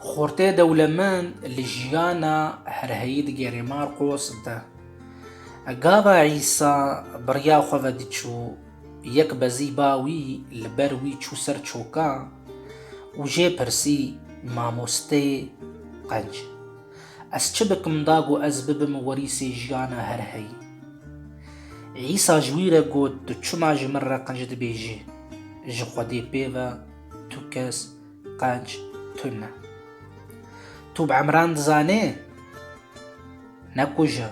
Xortê dewlemend li jiyana herheyî digerê Marqos de. Gava Îsa bi riya xwe ve diçû, yek bezî ba wî li ber wî çû ser çoka û jê pirsî, Mamosteyê qenc, ez çi bikim da ku ez bibim werîsê jiyana herheyî? Îsa ji wî re got, Tu çima ji min re qenc dibêjî? Ji Xwedê pê ve tu kes Qanc tune. Tu bi Emran dizanê? Ne kuja,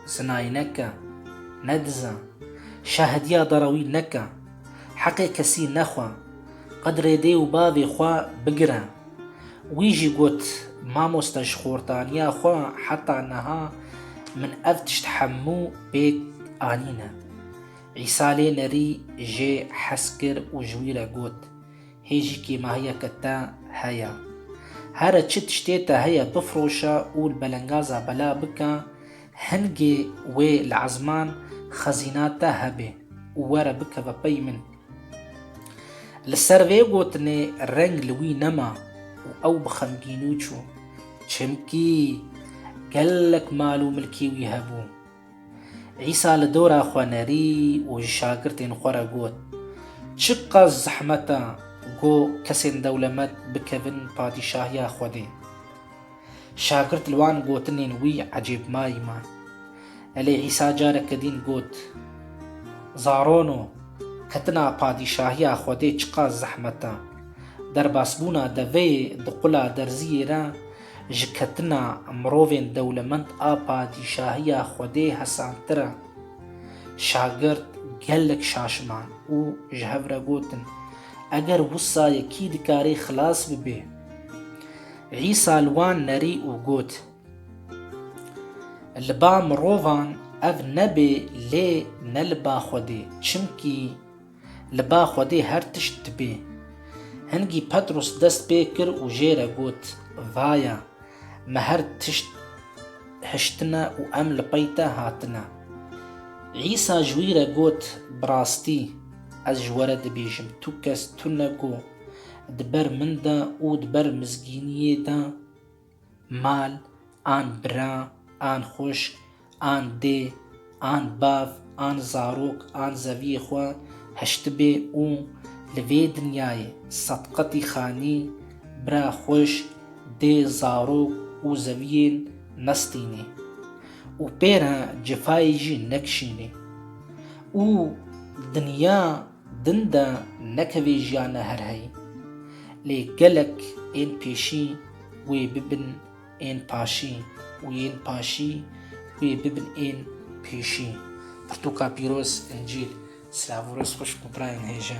zinayî neke, nedize, şahidiya derawî neke, heqê kesî nexwe, qedrê dê û bavê xwe bigire. Wî jî got, Mamoste ji xortaniya xwe heta niha min ev tişt hemû pêk anîne. Îsa lê nerî jê hez kir û ji wî re got, Hê jikê me heye ke te heye. Here çi tiştê te heye bifroşe û li belengaza bela bike, hingê wê li ezman xezîna te hebê û were bikeve pey min. Li ser vê gotinê reng li wî nema û ew bi xemgînû çû. Çimkî gelek mal û milkê wî hebû. Îsa li dora xwe nerî û ji şagirtên xwe re got, Çi qas zehmet e ku kesên dewlemet bikevin Padîşahiya Xwedê! Şagirt li wan gotinên wî ecêb mayî ma. Elê Îsa careke dîn got, Zarono, ketina Padîşahiya Xwedê çi qas zehmet e! Derbasbûna deveyê di qula derziyê re Ji ketina mirovên dewlemend a padîşahiya Xwedê hesantir e. Şagirt gelek şaşiman û ji hev re gotin, Eger wisa ye kî dikarî xilas bibê? Îsa li wan nerî û got, Li ba mirovan ev nebê lê ne li ba Xwedê, çimkî Li ba Xwedê her tişt dibe. Hingî Petros dest pê kir û jê re got, Vaya, me her tişt hiştine û em li pey te hatine. Îsa ji wî re got, Bi rastî, ez ji we re dibêjim, tu kes tune ku di ber min de û di ber mizgîniyê de, Mal an bira an xwişk an dê an bav an zarok an zeviyê xwe hiştibê û li vê dinyayê sed qetî xanî bira xwişk dê zarok û zeviyên nestînê û pêra cifayê jî nekişînê û dinya Din de nekevê jiyane her hey. Lê gelek ên pêşî wê bibin ên paşî û yên paşî wê bibin ên pêşî. Pirtûka pîroz, Încîl, Slavûros xwişk û birayên hêja.